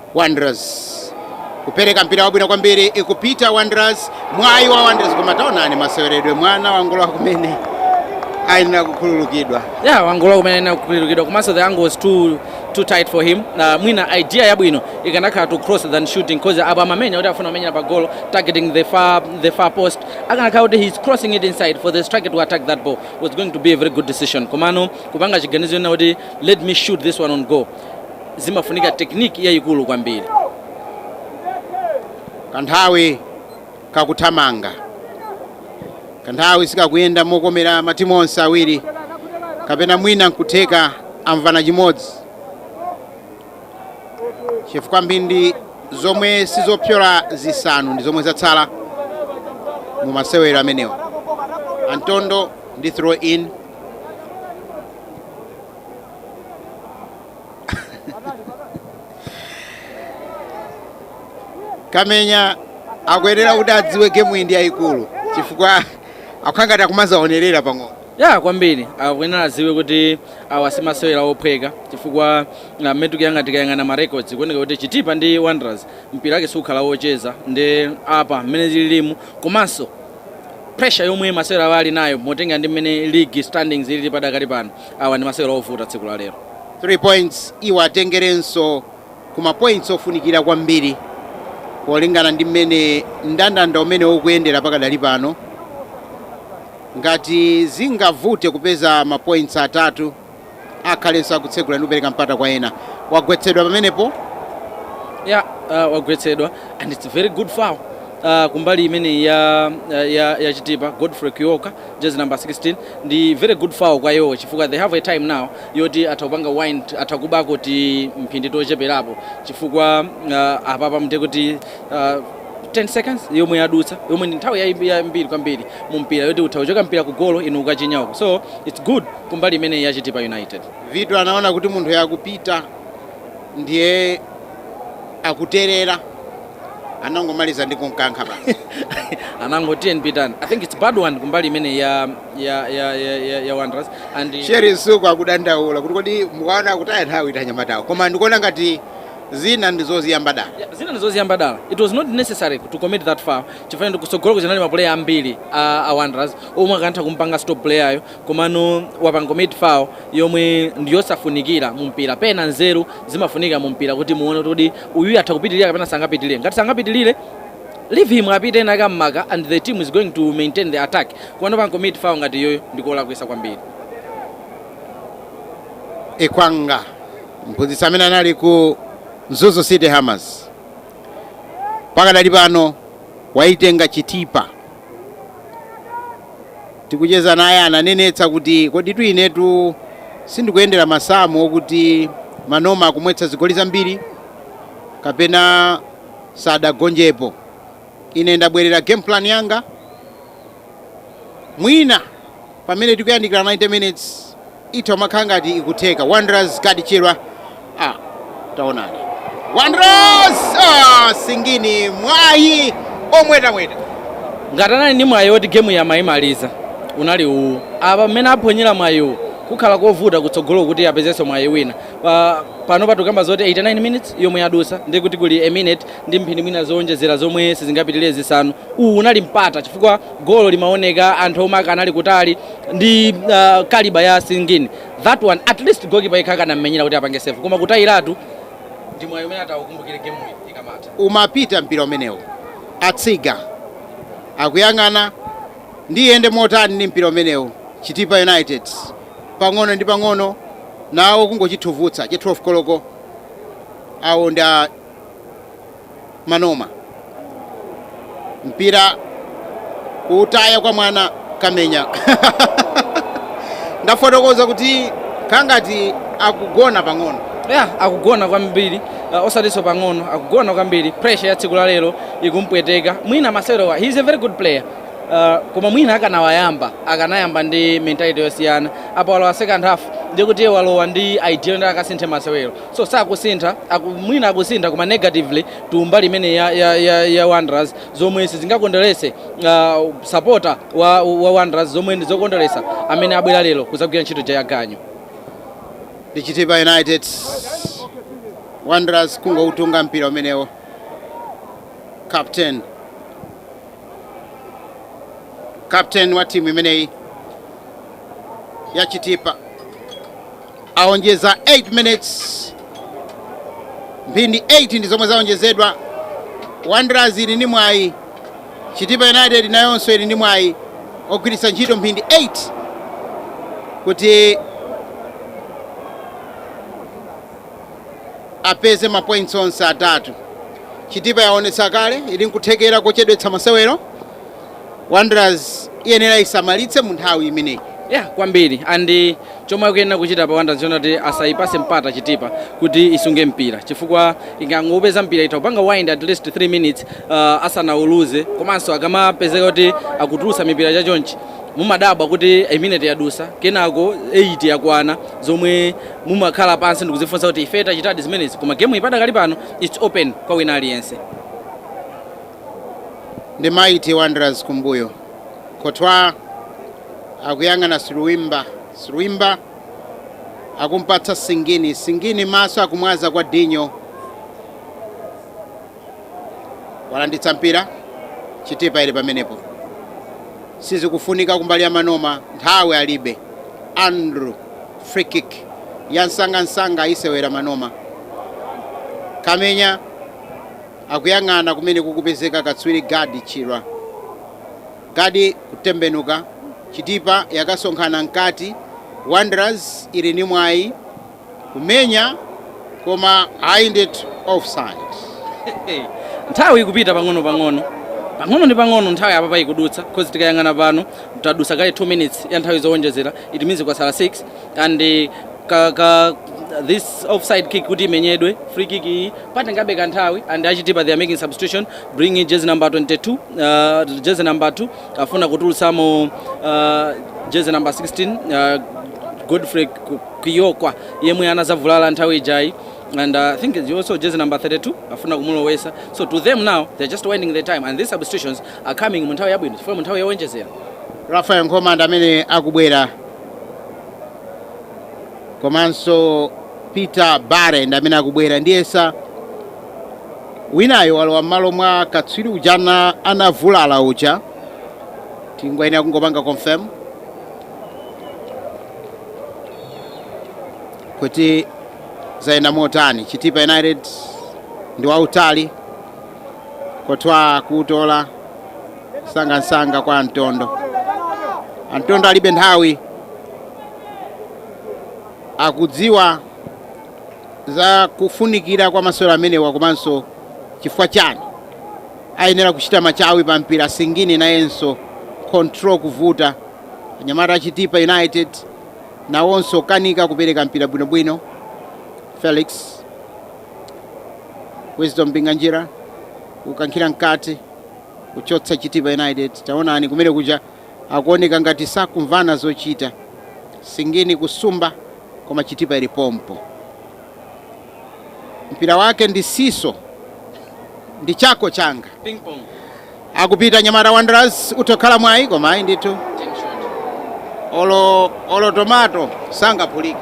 Wanderers kupereka mpira wabwino kwambiri ikupita Wanderers, mwayi wa Wanderers koma taonani maseweredwe mwana wangolowa kumene ayenera kukhululukidwa. Yeah, wangolowa kumene ayenera kukhululukidwa komanso the angle was too too tight for him. Uh, mwina idea yabwino ikanakhala to cross than shooting cause apa amamenya kuti afuna kumenyera pa goal targeting the far, the far post akanakhala kuti he's crossing it inside for the striker to attack that ball was going to be a very good decision komano kupanga chiganizo chonena kuti let me shoot this one on goal zimafunika technique yayikulu kwambiri. Kanthawi kakuthamanga, kanthawi sikakuyenda mokomera matimu onse awiri kapena mwina nkutheka amvana chimodzi chifukwa mphindi zomwe sizopyola zisanu ndi zomwe zatsala mu masewero amenewa. Antondo ndi throw in kamenya akuyenera kuti adziwe gemu iyi ndi yayikulu chifukwa akukhala ngati akumazaonerera pang'ono ya kwambiri akuyenera adziwe kuti awa simasewera ophweka chifukwa mmene tikuyang'ana tikayang'ana ma records kuoneka kuti chitipa ndi wanderers mpira wake sukhala wocheza ndi apa mmene zililimu komanso pressure yomwe masewera awo ali nayo motengera ndi mmene league standings ilili padakali pano Awa ndi masewero ovuta tsiku la lero. 3 points iwo atengerenso ku ma points ofunikira kwambiri polingana ndi mmene ndandanda umene ukuyendera pakadali pano. Ngati zingavute kupeza ma points atatu akhalenso akutsegula ndi kupereka mpata kwa ena. Wagwetsedwa pamenepo ya uh, wagwetsedwa and it's very good foul uh, kumbali imeneyi ya, ya, ya chitipa godfrey kuyoka Jersey number 16 ndi very good foul kwa iwowo chifukwa they have a time now yoti atha kupanga wind, atha kubako ti mphindi tocheperapo chifukwa uh, apapa ndiye kuti uh, 10 seconds yomwe yadutsa yomwe ndi nthawi yayi- yambiri kwambiri mu mpira yoti utha kuchoka mpira ku golo inu ukachinya uko so it's good kumbali imeneyi ya chitipa united Vitu anaona kuti munthuyu akupita ndiye akuterera anangomaliza ndi kumkankha basi anangoti eni pitani i think it's bad one kumbali imene ya ya ya ya, ya, ya wanderers and sheri msuku akudandaula kuti kodi mukaona akutaya nthawi ithe anyamatawo koma ndikuona ngati zina ndizoziyamba dala Yeah, zina ndizoziyamba dala it was not necessary to commit that foul chifukwa ndikutsogolo kusinali mapuleya ambiri a, a wanderers omwe akanatha kumpanga stop player ayo komano wapanga commit foul yomwe ndi yosafunikira mu mpira pena nzeru zimafunika mu mpira kuti muone kuti uyu atha kupitirira kapena sangapitirire ngati sangapitirire leave him apite ena akammake and the team is going to maintain the attack komano wapanga commit foul ngati iyoyo ndikulakwitsa kwambiri ekwanga mphunzitsi amene anali ku mzuzu city hammers pakadali pano waitenga chitipa tikucheza naye ananenetsa kuti koditu inetu sindikuyendera masamu okuti manoma akumwetsa zigoli zambiri kapena sadagonjepo ine ndabwerera game plan yanga mwina pamene tikuyandikira 90 minutes itha kumakhala ngati ikutheka wanderers Kadichirwa ah, taonani wanderers ah, Singini mwayi omwetamweta ngati anali ndi mwayi woti gemu amayimaliza unali uwu apa mmene aphonyera mwayiwu kukhala kovuta kutsogolo kuti apezenso mwayi wina Pa- pano patukamba zoti 89 minutes yomwe yadutsa ndi kuti kuli a minute ndi mphindi mwina zowonjezera zomwe sizingapitirire zisanu uwu unali mpata chifukwa golo limaoneka anthu omwe akanali kutali ndi uh, caliber ya Singini that one at least goalkeeper yekha akanammenyera kuti apange save koma kutayiratu ndi mwayi umene ataukumbukire game iyi ikamatha umapita mpira umenewo atsiga akuyang'ana ndiiyende motani ndi mpira umenewo chitipa united pang'ono ndi pang'ono nawo kungochithuvutsa cha 12 koloko awo ndi a Manoma. Mpira kuutaya kwa mwana Kamenya. Ndafotokoza kuti akhala ngati akugona pang'ono. Yeah, akugona kwambiri uh, osatinso pang'ono akugona kwambiri pressure ya tsiku la lero ikumpweteka mwina masewerowa he is a very good player uh, koma mwina akanawayamba akanayamba ndi mentality yosiyana apa walowa second half ndiye kuti iye walowa ndi idea yoti akasinthe masewero So sakusintha aku, mwina akusintha koma negatively to mbali imene ya, ya, ya, ya Wanderers zomwe sizingakondweretse uh, supporter wa, wa Wanderers zomwe ndi zokondweretsa amene abwera lero kuzagwira ntchito ja ya ganyu ndi chitipa united wanderers kungoutunga mpira umenewo captain captain wa timu imeneyi ya chitipa aonjeza 8 minutes mphindi 8 ndi zomwe zaonjezedwa wanderers ili ndi mwayi chitipa united nayonso ili ndi mwayi ogwiritsa ntchito mphindi 8 kuti apeze mapoints onse atatu chitipa yaonetsa kale ili nkuthekera kochedwetsa masewero Wanderers iyenera isamalitse mu nthawi imeneyi. Yeah, kwambiri and eh, chomwe akuyenera kuchita apa Wanderers ndi chonena kuti asayipatse mpata chitipa kuti isunge mpira chifukwa ikangopeza mpira itha kupanga wind at least 3 minutes uh, asanauluze komanso akamapezeka kuti akutulutsa mipira chachonchi mumadabwa kuti a minute yadutsa kenako 8 yakwana zomwe mumakhala pansi ndikuzifunsa kuti ife tachitadi zimenezi koma game ipadakali pano it's open kwa wina aliyense ndi Mighty Wanderers kumbuyo. Courtois akuyang'ana Silwimba, Silwimba akumpatsa Singini, Singini maso akumwaza kwa Dinho, walanditsa mpira Chitipa ili pamenepo, sizikufunika kumbali ya Manoma, nthawi alibe. Andrew free kick ya msangamsanga ayisewera Manoma, kamenya Akuyang'ana kumene kukupezeka katswiri Gaddie Chirwa. Gaddie kutembenuka, Chitipa yakasonkhana mkati, Wanderers ili ndi mwayi kumenya koma ayi ndithu offside. Nthawi ikupita pang'ono pang'ono pang'ono ndi pang'ono nthawi apapa ikudutsa cause tikayang'ana pano tadutsa kale 2 minutes ya nthawi zowonjezera it means kwasala 6 and eh, ka, ka this offside kick kuti imenyedwe free kick iyi patengabe kanthawi and a chitipa they are making substitution bringing jersey number 22 uh, jersey number 2 afuna kutulutsamo uh, jersey number 16 uh, godfrey Ku- kiyokwa yemwe anazavulala nthawi ijayi and uh, i think it's also jersey number 32 afuna kumulowesa so to them now they're just winding their time and these substitutions are coming mu nthawi yabwino chifukwa mu nthawi yowonjezera rafael nkhoma ndi amene akubwera komanso peter bare ndi amene akubwera ndiyesa winayo walowa m'malo mwa katswiri uja ana- anavulala uja tingoyenera kungopanga confirm kuti zayenda motani chitipa united ndi wautali courtois kuutola sangamsanga kwa Antondo. Antondo alibe nthawi, akudziwa za kufunikira kwa masewero amenewa komanso chifukwa chani ayenera kuchita machawi pa mpira singini nayenso control kuvuta anyamata a Chitipa United nawonso kanika kupereka mpira bwinobwino Felix Wisdom Mpinganjira kukankhira mkati kuchotsa chitipa united taonani kumene kuja akuoneka ngati sakumvana zochita singini kusumba koma chitipa ili pompo mpira wake ndi siso ndi chako changa Ping pong. akupita nyamata wanderers uthokhala mwayi koma ayi ndithu olo olo tomato sangaphulike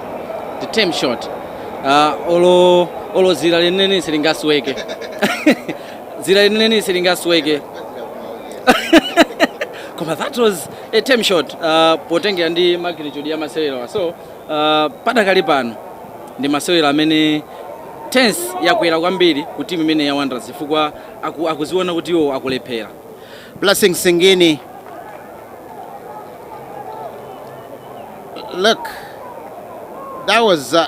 The tame shot. Uh, olo olo dzira lenileni silingasweke. dzira lenileni silingasweke koma that was a tame shot uh, potengera ndi magnitude ya masewerawa so uh, padakali pano ndi masewero amene tension yakwera kwambiri ku timu imene ya Wanderers chifukwa aku, akuziona kuti iwo akulephera Blessing Singini. Look, that was uh,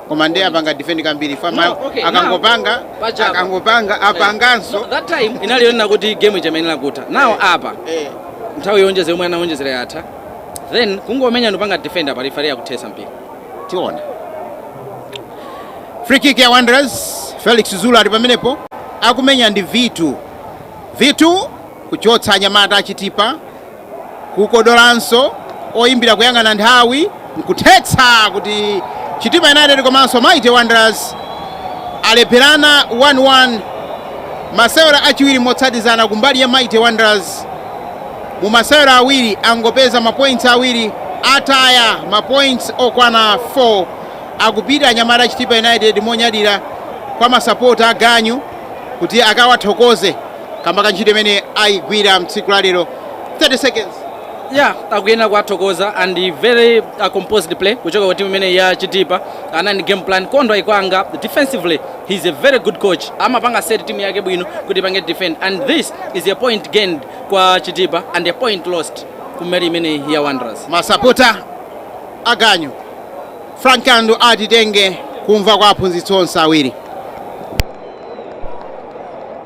Koma nde apanga defend kwambiri chifukwa ma- No, okay, akangopanga now, pachapa. akangopanga apanganso No, that time inali yonena kuti game ichamayenera kutha nawo apa Eh, nthawi yowonjezera yomwe anawonjezera yatha then kungomenya ndipanga defender pa referee akuthetsa mpira tiona free kick ya wanderers felix zulu ali pamenepo akumenya ndi Vitu Vitu kuchotsa anyamata achitipa Kukodolanso, oyimbira kuyang'ana nthawi nkuthetsa kuti Chitipa United komanso Mighty Wanderers alepherana 1 1. Masewero achiwiri motsatizana ku mbali ya Mighty Wanderers mu masewero awiri angopeza ma points awiri, ataya ma points okwana 4. Akupita anyamata a Chitipa United monyadira kwa ma sapota a ganyu kuti akawathokoze. kamba ka ntchito imene ayigwira mtsiku la lero 30 seconds ya akuyenera kuwathokoza and very uh, composed play kuchoka kwa timu imene ya chitipa anali ndi game plan Kaunda ayikwanitsa defensively he's a very good coach amapanga set timu yake bwino kuti ipange defend and this is a point gained kwa chitipa and a point lost kumbali imene ya wanderers masapota aganyu frank kandu atitenge kumva kwa aphunzitsi onse awiri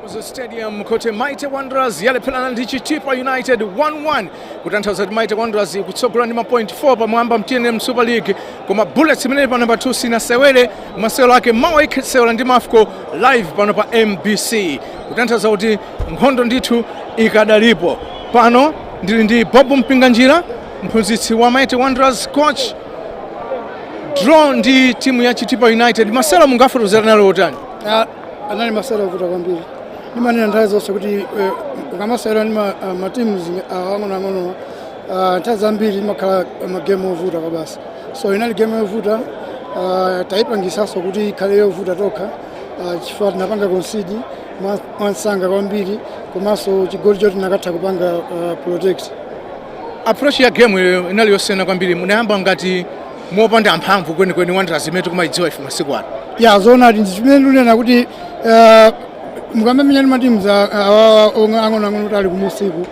Kamuzu Stadium kuti Mighty Wanderers yalepherana ndi Chitipa United 1-1 kutanthauza kuti Mighty Wanderers ikutsogola ndi mapoint 4 pamwamba m'TNM Super League koma Bullets imene ili pa namba 2 sinasewere masewero ake mawa ikhala ikusewera ndi Mafco live pano pa MBC kutanthauza kuti Nkhondo ndithu ikadalipo. Pano ndili ndi Bob Mpinganjira, mphunzitsi wa Mighty Wanderers coach. Draw ndi timu ya Chitipa United. Masewero mungafotokoze anali otani? Ah, anali masewero ovuta kwambiri ndimanena nthawi zonse kuti eh, ukamasewera ndi ma- ah, matimu zi- ah, ang'onoang'ono ah, nthawi zambiri imakhala magemu ovuta kwabasi so inali gemu yovuta ah, tayipangisanso kuti ikhale yovuta tokha ah, chifukwa tinapanga konsidi mwa- mwansanga kwambiri komanso chigoli choti tinakatha kupanga uh, protect approach ya game iyo inali yosiyana kwambiri munayamba ngati mopanda mphamvu kwenikweni wanderers imene tikumayidziwa ife masiku ano yeah zoonadi ndi chimene ndimanena kuti uh, mukamamenya ndi matimu awawa omwe ang'onoang'ono kuti ali kumusiku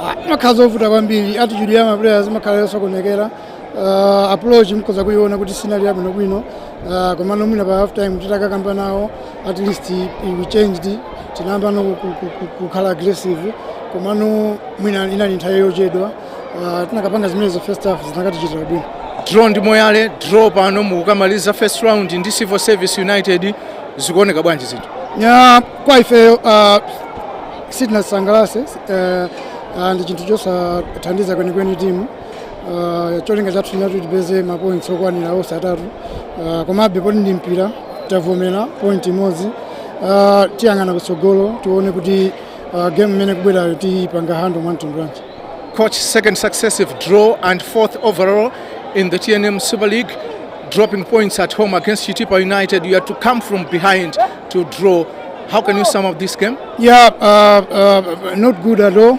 ah, zimakhala zovuta kwambiri attitude ya maplayers imakhala yosokonekera uh, approach mukhoza kuiona kuti sinali yabwinobwino Uh, komano mwina pa half time titakakamba nawo at least we changed tinayambano ku- ku- ku- kukhala aggressive komano mwina inali nthawi yochedwa uh, tinakapanga zimenezo first half zinakatichitira bwino draw ndi moyale draw pano mukukamaliza first round ndi civil service united zikuoneka bwanji zinthu yeah kwa ifeyo uh, sitinasangalatsidwe uh, uh, ndi chinthu chosathandiza kwenikweni timu Ah, cholinga chathu chinali choti tipeze mapoints okwanira onse atatu Ah, komabe poti ndi mpira tavomera point imodzi Ah, tiyang'ana kutsogolo tione kuti ah, game imene ikubwerayo tiyipanga handle mwa mtundu wanji Coach, second successive draw and fourth overall in the TNM Super League, dropping points at home against Chitipa United. You had to come from behind to draw. How can you sum up this game? Yeah, uh, uh, not good at all.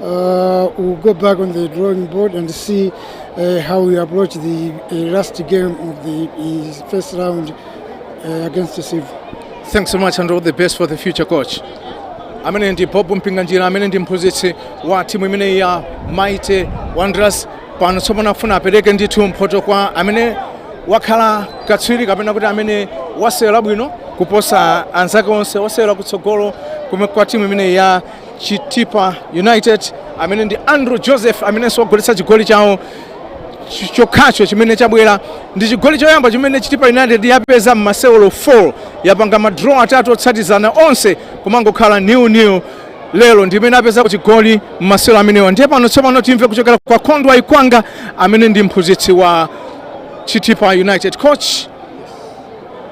Uh, we'll go back on the drawing board and see uh, how we approach the uh, last game of the uh, first round uh, against the Civil. Thanks so much and all the best for the future coach. amene ndi bob mpinganjira amene ndi mphunzitsi wa timu imeneyi ya mighty wanderers pano tsopano afuna apereke ndithu mphoto kwa amene wakhala katswiri kapena kuti amene wasewera bwino kuposa anzake onse wosewera kutsogolo kwa timu imeneyi ya Chitipa United amene ndi Andrew Joseph amenenso wagoletsa chigoli chawo ch- chokhacho chimene chabwera ndi chigoli choyamba chimene Chitipa United yapeza m'masewero 4 yapanga madraw atatu otsatizana onse kumangokhala nil nil lero ndi imene apeza chigoli m'masewero amenewa ndiye pano tsopano timve kuchokera kwa Kondwa Ikwanga amene ndi mphunzitsi wa Chitipa United coach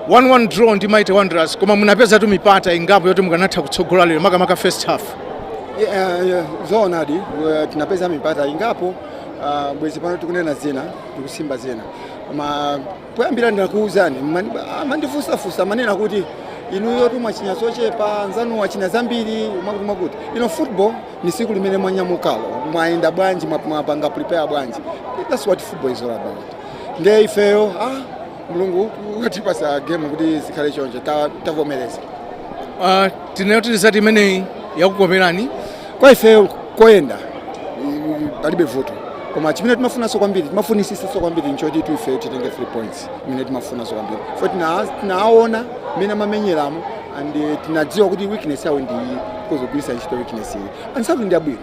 1-1 draw ndi Mighty Wanderers koma munapezatu mipata ingapo yoti mukanatha kutsogola lero makamaka first half. Yeah, yeah, zoonadi eh, tinapeza mipata ingapo ah, bwezi pano tikunena zina tikusimba zina koma poyambira ndinakuwuzani mani- mumandifunsafunsa mumanena kuti inuyo mwachinya zochepa anzanu achinya zambiri mwakuti mwakuti iyayi football ni siku limene mwanyamukalo mwayenda bwanji mwap- mwapanga prepare bwanji that's what football is all about nde ifeyo ah, mulungu ukatipasa gemu kuti zikhale chonje tavomereza ta uh, tinena kuti result imeneyi yatikomeranso ife koyenda palibe vuto koma chimene timafunanso kwambiri timafunisisanso kwambiri nchoti tu ife titenge 3 points imene timafunanso kwambiri for tinaona mmene amamenyeramo and eh, tinadziwa kuti weakness yawo ndi iyi kuzogwirisa ntchito weakness iyi and ndi abwino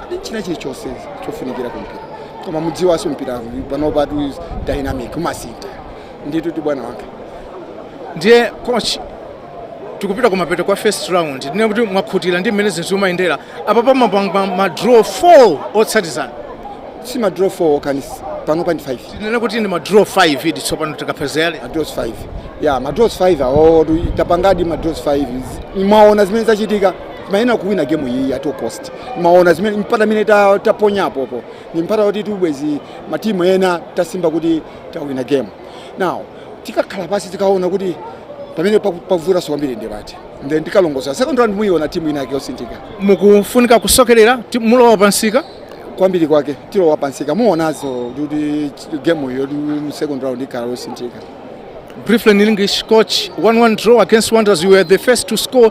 ndi china chilichonse chofunikira ku mpira koma mudziwanso mpira panopa tu is dynamic umasintha nditu bwana wanga ndiye coach tikupita kumapeto kwa first round tinene kuti mwakhutira ndi mmene zinthu zimayendera apa mwapanga ma draw 4 otsatizana si ma draw 4 kani panopa ndi 5 tinene kuti ndi ma draw 5 idi tsopano tikapezeyale ma draws 5 ya ma draws 5 awo tu tapangadi ma draws 5 mwaona zimene zachitika timayenera kuwina gemu iyi at all cost mwaona zimene mipata imene ta- taponya apopo ndi mipata yoti bwezi ma time ano tasimba kuti tawina gemu now tikakhala pansi tikaona kuti pamene paku- pavutanso kwambiri ndi pati then tikalongosola second round muyiona timu ina yake yosinthika mukufunika kusokerera mulowa pamsika kwambiri kwake tilowa pamsika muonanso kuti gemu iyo mu second round ikhala yosinthika briefly in english coach 1-1 draw against wanderers you were the first to score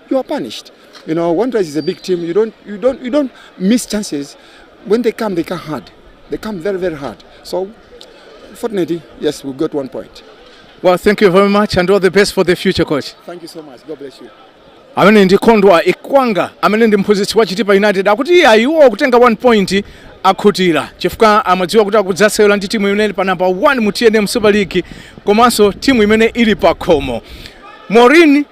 you are punished. You know, Wanderers is a big team. You don't, you don't, you don't miss chances. When they come, they come hard. They come very, very hard. So, fortunately, yes, we got one point. Well, thank you very much and all the best for the future, coach. Thank you so much. God bless you. amene ndi kondwa ikwanga amene ndi mphunzitsi wa chitipa united akuti iye ayi iwo kutenga 1 point akhutira chifukwa amadziwa kuti akudzasewera ndi timu imene ili pa namba 1 mu tnm super league komanso timu imene ili pa khomo maureen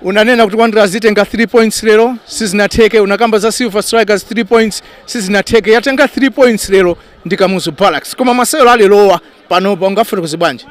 unanena kuti wanderers itenga 3 points lero sizinatheke unakamba za silver strikers 3 points sizinatheke yatenga 3 points lero ndi kamuzu barracks koma masewero alerowa panopa ungafotokoze bwanji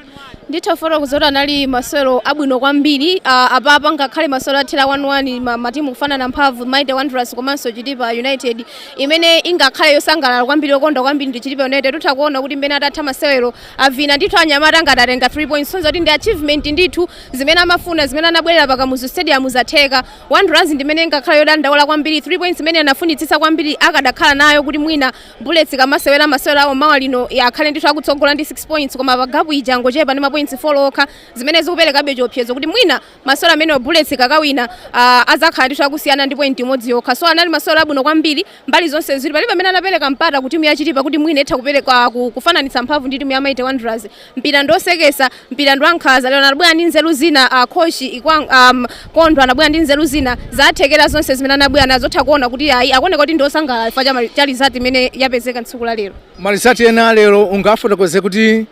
nditha kufotokoza kuti anali masewero abwino kwambiri ah, apapa ngakhale masewero athera 1-1 ma- matimu kufanana mphamvu mighty wanderers komanso chitipa united imene ingakhale yosangalala kwambiri yokondwa kwambiri ndi chitipa united mutha kuona kuti mmene atatha masewero avina ndithu anyamata ngati atenga 3 points kusonyeza kuti ndi achievement ndithu zimene amafuna zimene anabwerera pa Kamuzu Stadium zatheka. Wanderers ndi imene ingakhale yodandaula kwambiri 3 points imene anafunitsitsa kwambiri akadakhala nayo kuti mwina Bullets ikamasewera masewero awo mawa lino akhale ndithu akutsogola ndi 6 points koma pano gapu ija yangochepa ndi mapoints 4 okha zimene zikuperekabe chiopsezo kuti mwina masewero amenewo Bullets ikakawina ah, adzakhala ndithu akusiyana ndi point imodzi yokha so anali masewera abwino kwambiri mbali zonse ziwiri palibe amene anapereka mpata ku timu ya chitipa kuti mwina itha kupereka ku- kufananitsa mphamvu ndi timu ya mighty wanderers mpira ndi oseketsa mpira ndi wankhaza lero anabwera ndi nzeru zina uh, coach ikwa um, kondo anabwera ndi nzeru zina zathekera zonse zimene anabwera nazo utha kuona kuti ayi akuoneka kuti ndi osangalala chifukwa cha mali- cha result imene yapezeka tsiku la lero ma result ena a lero ungafotokoze kuti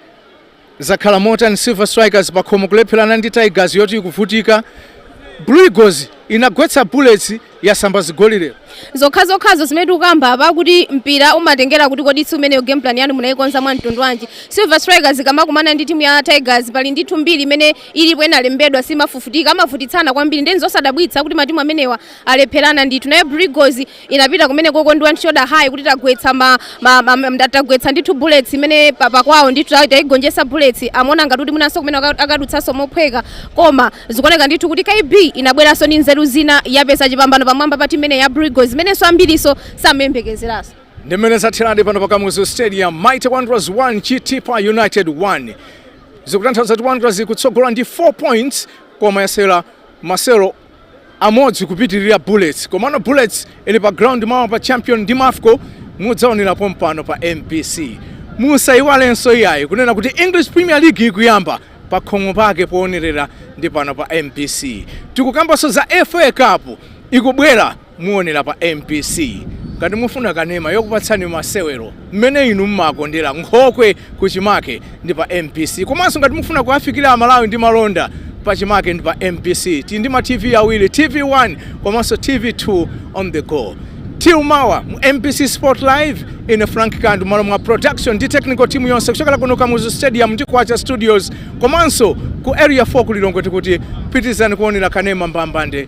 Zakhala motani? Silver Strikers pakhomo kulepherana ndi Tigers yoti ikuvutika, Blue Eagles inagwetsa Bullets yasamba zigoli lero. zokhazokhazo zimene tikukamba apa kuti mpira umatengera kuti kodi tsiku limenelo game plan yanu munayikonza mwa mtundu wanji silver strikers ikamakumana ndi timu ya tigers pali ndithu mbiri imene ilipo inalembedwa siimafufutika amavutitsana kwambiri nde n'zosadabwitsa kuti matimu amenewa alepherana ndithu naye Blue Eagles inapita kumene koko ndi shoulder high kuti tagwetsa ma, ma, ma, ma, tagwetsa ndithu bullets imene pa- pakwawo ndithu ta- tayigonjetsa bullets amaona ngati kuti mwinanso kumene aka- akadutsanso mophweka koma zikuoneka ndithu kuti kb inabweranso ndi nzeru zina yapeza chipambano pamwamba pa timu imene ya Blue Eagles zimenenso ambiriso samayembekezeranso ndi mmene zatheradi pano pa kamuzu stadium mighty wanderers 1 chitipa united 1 zikutanthauza kuti wanderers ikutsogola ndi 4 points koma yasewera masewero amodzi kupitirira Bullets. Komano Bullets ili pa ground mawa pa champion ndi Mafco mudzaonera pompano pa MBC. Musaiwalenso iyayi kunena kuti English Premier League ikuyamba pa khomo pake poonerera ndi pano pa MBC. Tikukambanso za FA Cup ikubwera muonera pa mbc ngati mufuna kanema yokupatsani masewero mmene inu mmakondera nkhokwe kuchimake ndi pa mbc komanso ngati mufuna kuwafikira amalawi ndi malonda pachimake ndi pa mbc tili ndi ma tv awiri tv1 komanso tv2 on the go till mawa mu mbc sport live ine frank kandu mmalo mwa production ndi technical team yonse kuchokera kuno kamuzu stadium ndi kwacha studios komanso ku area 4 ku lilongwe tikuti pitirizani kuonera kanema mbambande